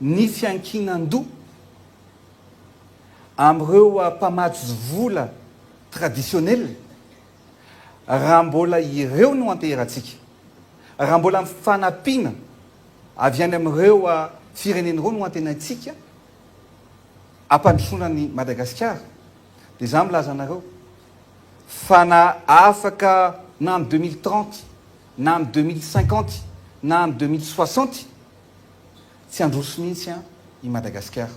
ny fiankinan-doha amin'ireo mpamatsy vola traditionnel raha mbola ireo no anteheratsika, raha mbola fanampiana avy any amin'ireo firenena ireo no antenaintsika hampandrosoana an'i Madagasikara dia izaho milaza anareo fa na afaka na amin'ny deux mille trente na amin'ny deux mille cinquante na amin'ny deux mille soixante tsy handroso mihitsy an i Madagasikara.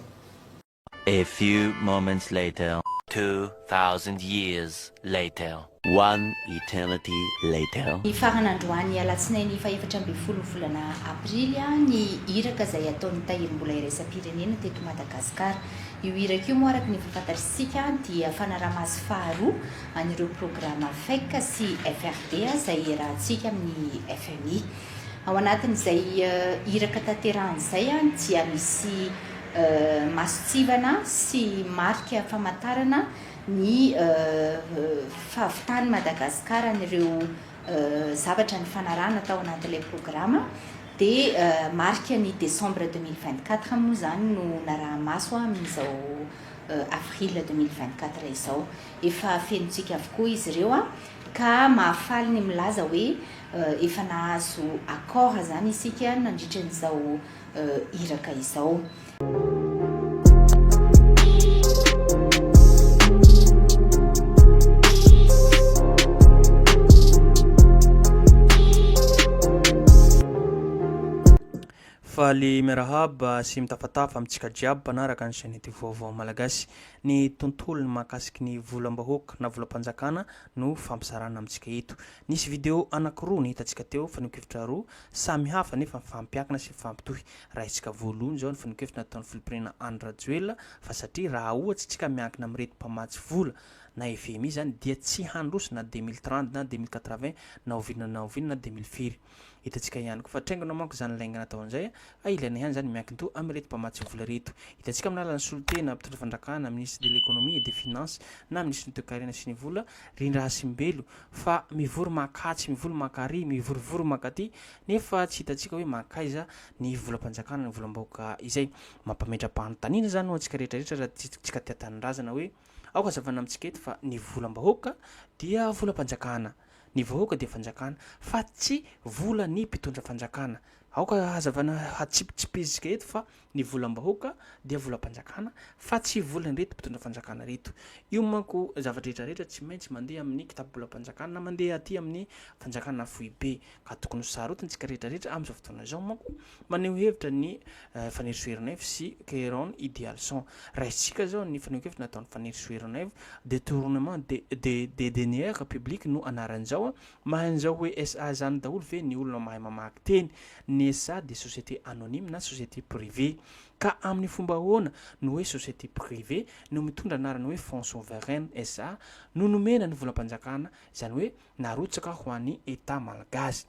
A few moments later, Two thousand years later. One eternity later. Nifarana androany alatsinainy fahefatra ambin'ny folo volana aprily ny iraka izay ataon'ny tahirimbola iraisam-pirenena teto Madagasikara. Io iraka io moa araka ny efa fantatr'isika dia fanaraha-maso faharoa, an'ireo programa fec sy FRD izay iarahantsika amin'ny fmi. Ao anatin'izay iraka tanterahana izay dia misy masontsivana sy marika famantarana ny fahavitan'i Madagasikara an'ireo zavatra nifanarahana tao anatin'ilay programa dia marika ny décembre deux mille vingt-quatre moa izany no naraha-maso amin'izao avril deux mille vingt-quatre izao. Efa fenontsika avokoa izy ireo an! Ka mahafaly ny milaza hoe efa nahazo accord izany isika nandritra an'izao iraka izao. Faly miarahaba sy mitafatafa amintsika jiaby mpanaraka ny chaine ity vaovao Malagasy. Ny tontolony mahakasiky ny volam-bahoaka na volam-panjakana no fampizarana amintsika eto. Nisy video anankiroa ny hitantsika teo, fanehoan-kevitra roa samy hafa nefa mifampiankina sy mifampitohy. Raisitsika voalohany izao ny fanehoan-kevitra nataon'ny filoham-pirenena Andry Rajoelina fa satria raha ohatsy tsika miankina amin'ireto mpamatsy vola na fmi izany dia tsy handroso na deux mille trente na deux mille quatre-vingts na oviana na oviana na deux mille firy. Hitantsika ihany koa fa traingona manko izany laingana atao an'izay ka ilaina ihany izany miankin-doha amin'ireto mpamatsy vola ireto. Hitantsika amin'ny alalan'ny solontena mpitondra fanjakana, Ministre de l'Economie et des Finances na Minisitry ny Toekarena sy ny Vola, Rindrahasimbelo, fa mivory mankatsy, mivory mankary, mivorivory mankaty nefa tsy hitantsika hoe mankaiza ny volam-panjakana, ny volam-bahoaka izay. Mampametra-panontaniana izany ho antsika rehetrarehetra raha tsy tsy ka tia tanindrazana hoe aoka hazavana amintsika eto fa ny volam-bahoaka dia volam-panjakana. Ny vahoaka dia fanjakana fa tsy volan'ny mpitondra fanjakana. Aoka hazavaina hatsipitsipizika eto fa ny volam-bahoaka dia volam-panjakana fa tsy volan'ireto mpitondra fanjakana ireto. Io manko zava-drehetra rehetra tsy maintsy mandeha amin'ny kitapobolam-panjakana na mandeha aty amin'ny fanjakana foibe ka tokony ho sarotintsika rehetra rehetra amin'izao fotoana izao manko Maneho hevitra ny Fanely Soeronaivo sy Keron Idealson. Raisintsika izao ny fanehoan-kevitra nataon'i Fanely Soeronaivo, Detournement de de des deniers publics no anarany izao a! Mahay an'izao hoe SA izany daholo ve ny olona mahay mamaky teny? Ny SA dia société anonyme na société privée. Ka amin'ny fomba ahoana no hoe société privée no mitondra anarana hoe Fonds Souverain SA no nomena ny volam-panjakana, izany hoe, narotsaka ho an'i Etat Malgazy.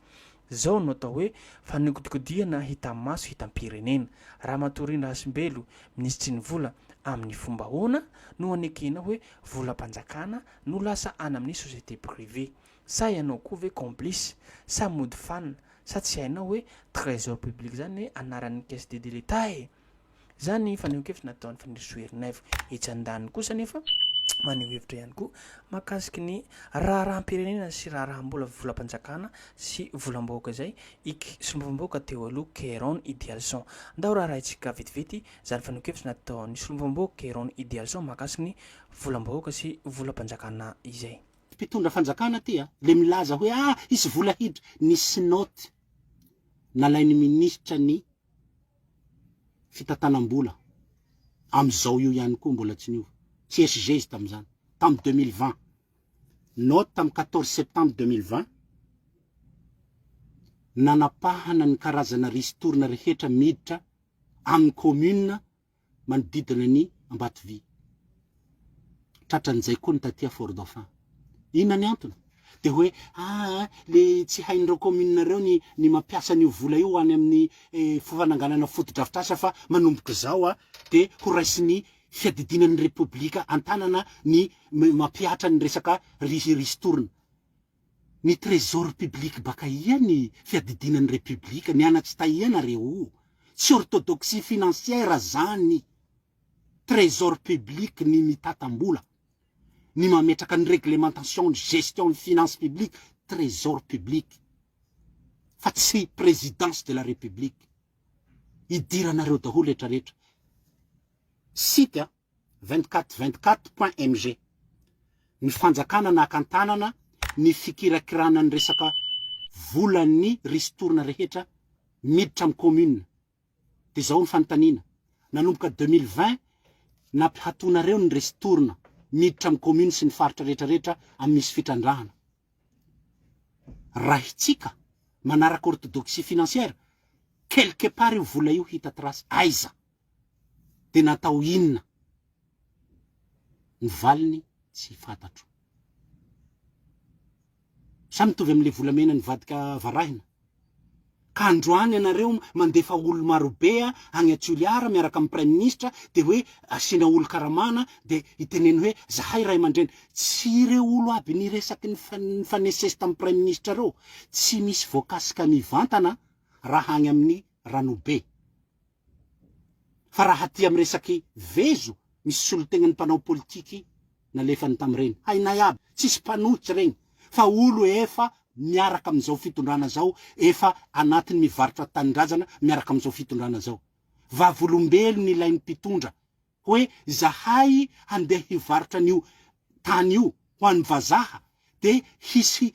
Zao no atao hoe fanodikodihana hitan'ny maso hitam-pirenena. Ramatoa Rina Hasimbelo, Minisitry ny Vola, amin'ny fomba ahoana no anekena hoe volam-panjakana no lasa any amin'ny société privée? Sa ianao koa ve complice? Sa mody fanina? Sa tsy hainao hoe trésor public zany anaran'ny caisse de de l'Etat e? Izany ny fanehoan-kevitra nataon'i Fanirisoa Ernaivo. Etsy andaniny kosa anefa, maneho hevitra ihany koa mahakasiky ny raharaham-pirenena sy raharaham-bola volam-panjakana sy volam-bahoaka izay i Solombavambahoaka teo aloha Keyron Idialson. Ndao raharahintsika vetivety izany fanehoan-kevitra nataon'i Solombavambahoaka Keyron Idialson mahakasiky ny volam-bahoaka sy volam-panjakana izay. Mpitondra fanjakana ity a! Ilay milaza hoe ah hisy vola hiditra, nisy note nalain'ny minisitra ny fitantanam-bola amin'izao io ihany koa mbola tsy niova, tsy SG izy tamin'izany, tamin'ny deux mille vingt, note tamin'ny quatorze septembre deux mille vingt, nanapahana ny karazana ristourne rehetra miditra amin'ny commune manodidina ny Ambatovia. Tratran'izay koa ny taty Fort Dauphin. Inona ny antony? Dia hoe aa le tsy hain'ireo commune ireo ny ny mampiasa an'io vola io ho any amin'ny fananganana fotodrafitrasa fa manomboka izao dia ho raisin'ny fiadidiana ny Repoblika an-tanana ny mampihatra ny resaka ristourne. Ny trésor public baka ia ny fiadidiana ny repiblika, ny ana tsy taia nareo o, tsy orthodoxie financière zany, trésor public ny mitatambola, ny mametraka ny réglementation ny gestion ny finance public trésor public fa tsy présidence de la république, idiranareo daholo retraretra, site a. 2424.mg Ny fanjakana naka an-tanana ny fikirakirana ny resaka volan'ny ristourne rehetra miditra amin'ny commune. Dia izao ny fanontaniana, nanomboka deux mille vingt nampihatonareo ny ristourne miditra amin'ny commune sy ny faritra rehetra rehetra amin'ny misy fitrandrahana. Rahitsika manaraka orthodoxie financière, quelque part io vola io hita trace aiza? dia natao inona? Ny valiny tsy fantatro. Sa mitovy amin'ilay volamena nivadika varahina? Ka androany ianareo mandefa olona marobe any à Toliara miaraka amin'ny Praiminisitra dia hoe asiana olon-karamana dia hiteneno hoe zahay ray aman-dreny. Tsy ireo olo aby niresaky nifanesisesy tamin'ny Praiminisitra ireo? Tsy misy voakasika mivantana raha any amin'ny Ranobe. Fa raha aty amin'ny resaky vezo misy solotegnan'ny mpanao politiky nalefany tamin'ireny, hainay aby, tsisy mpanohitra regny fa olo efa miaraka amin'izao fitondrana zao, efa anatiny mivarotra tanindrazana miaraka amin'izao fitondrana zao. Vavolombelony ilay mpitondra hoe izahay handeha hivarotra an'io tany io ho an'ny vazaha dia hisy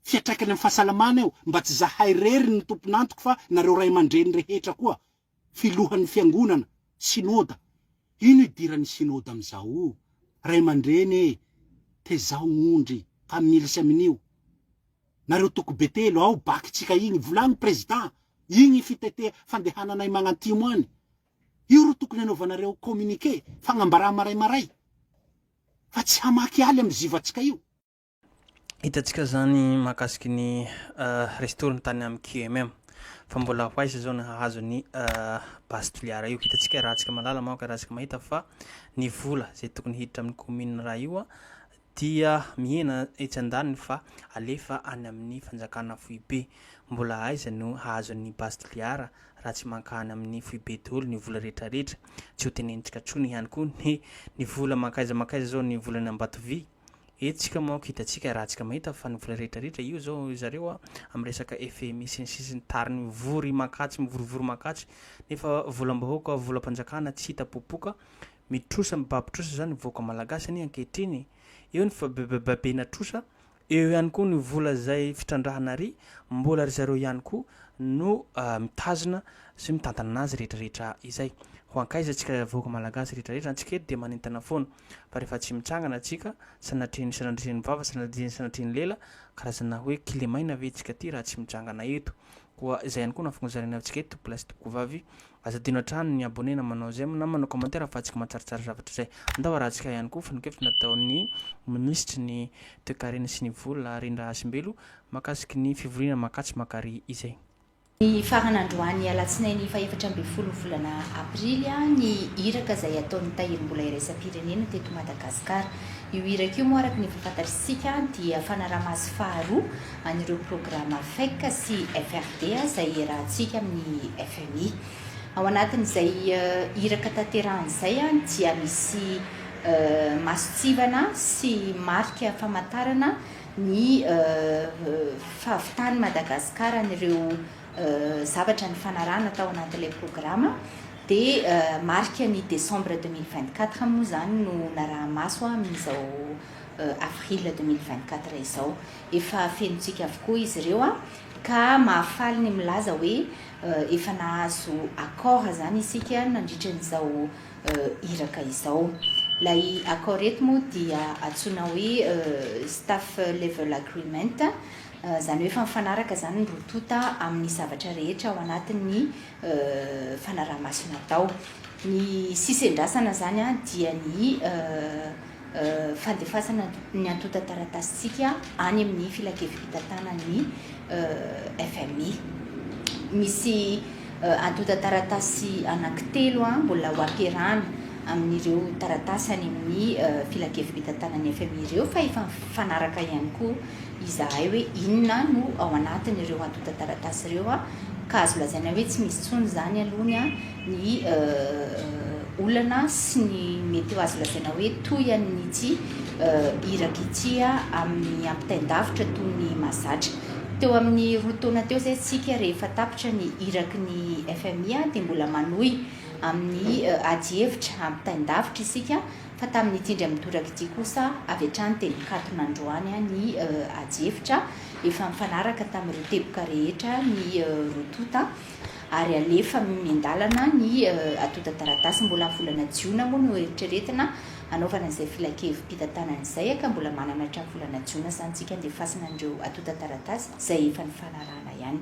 fiatraikany amin'ny fahasalamana eo mba tsy izahay irery no tompon'antoko fa nareo ray aman-dreny rehetra koa, filohan'ny fiangonana, synoda, ino idiran'ny synoda amin'izao o? ray aman-dreny e! tezao ondry fa milsy amin'io, nareo toko be telo ao bac-tsika igny, volagno président, igny fitetea fandehananay magnantimo any, Io ro tokony anaovanareo communiqué, fagnambarà maray maray, fa tsy hamaky aly am zivatsika io. Hitantsika izany mahakasiky ny resy toriny tany amin'ny QMM. Fa mbola ho aiza izao ny hahazo ny base toliara io. Hitantsika iarahantsika malala manko iarahantsika mahita fa ny vola izay tokony hiditra amin'ny commune iray io dia mihena etsy andaniny fa alefa any amin'ny fanjakana foibe. Mbola aiza no hahazoan'ny base tliara raha tsy mankany amin'ny foibe daholo ny vola rehetra rehetra. Tsy ho tenenitsika tsony ihany koa ny ny vola mankaiza mankaiza zao ny volany ambatovy e. Tsika manko hitatsika raha tsika mahita fa ny vola rehetra rehetra io zao zareo amin'ny resaka FMI sy ny sisa sy ny tariny mivory mankatsy mivorivory mankatsy nefa volam-bahoaka volam-panjakana tsy hita popoka. Mitrosa mibaby trosa zany vahoaka malagasy anie ankehitriny, eo ny fibabebabena trosa, eo ihany koa ny vola zay fitrandrahana ry mbola ry zareo ihany koa no mitazona sy mitantana anazy rehetra rehetra izay, ho ankaiza tsika vahoaka malagasy rehetra rehetra, antsika eto dia manentana foana fa rehefa tsy mitsangana tsika sanatrian'ny sanadrian'ny vava sanadrian'ny sanadrian'ny lela, karazana hoe kilemaina ve tsika ty raha tsy mitsangana eto, Koa izay ihany koa no ahafahan'izay ilaina amintsika eto, mpilahy sy tompokovavy. Aza adino hatrany ny abonné na manao j'aime na manao commentaire ahafahantsika mahatsaratsara zavatra izay. Andao harahantsika ihany koa fanehoan-kevitra nataon'ny minisitry ny Toekarena sy ny vola, Rindra Hasimbelo, mahakasiky ny fivoriana Makatso Makary izay. Nifarana androany alatsinainy fahefatra ambin'ny folo volana aprily ny iraka izay ataon'ny tahirim-bola iraisam-pirenena teto Madagasikara. Io iraka io moa araka ny efa fantatr'isika dia fanaraha-maso faharoa an'ireo programa fec sy FRD izay iarahantsika amin'ny fmi. Ao anatin'izay iraka tanterahina izay dia misy masontsivana sy marika famantarana ny fahavitan'i Madagasikara an'ireo zavatra nifanarahana tao anatin'ilay programa dia marika ny décembre deux mille vingt quatre moa izany no naraha-maso amin'izao avril deux mille vingt quatre izao. Efa fenontsika avokoa izy ireo an! Ka mahafaly ny milaza hoe efa nahazo accord izany isika nandritra an'izao iraka izao. Ilay accord eto moa dia antsoina hoe Staff Level Agreement, izany hoe efa mifanaraka izany ny roa tonta amin'ny zavatra rehetra ao anatin'ny fanaraha-maso natao. Ny sisa iandrasana izany dia ny fandefasana ny antontan-taratasintsika any amin'ny filankevi-pitantanan'ny fmi. Misy antontan-taratasy anankitelo mbola ho ampiarahana amin'ireo taratasy any amin'ny filankevi-pitantanan'ny fmi ireo fa efa mifanaraka ihany koa izahay hoe inona no ao anatin'ireo antontan-taratasy ireo ka azo lazaina hoe tsy misy intsony izany aloha ny ny olana sy ny mety ho azo lazaina hoe toy an'ity iraka ity amin'ny ampitain-davitra toy ny mahazatra. Teo amin'ny roa taona teo izay isika rehefa tapitra ny iraky ny fmi dia mbola manohy amin'ny adihevitra ampitain-davitra isika fa tamin'ity indray mitoraka ity kosa avy hatrany dia nikatona androany ny adihevitra efa nifanaraka tamin'ireo teboka rehetra ny roa tonta ary alefa miandalana ny atontan-taratasy mbola amin'ny volana jiona moa no eritreretina hanaovana izay filankevi-pitantanana izay a, ka mbola manana hatramin'ny volana jiona sahantsika handefasana an'ireo atontan-taratasy izay efa nifanarahana ihany.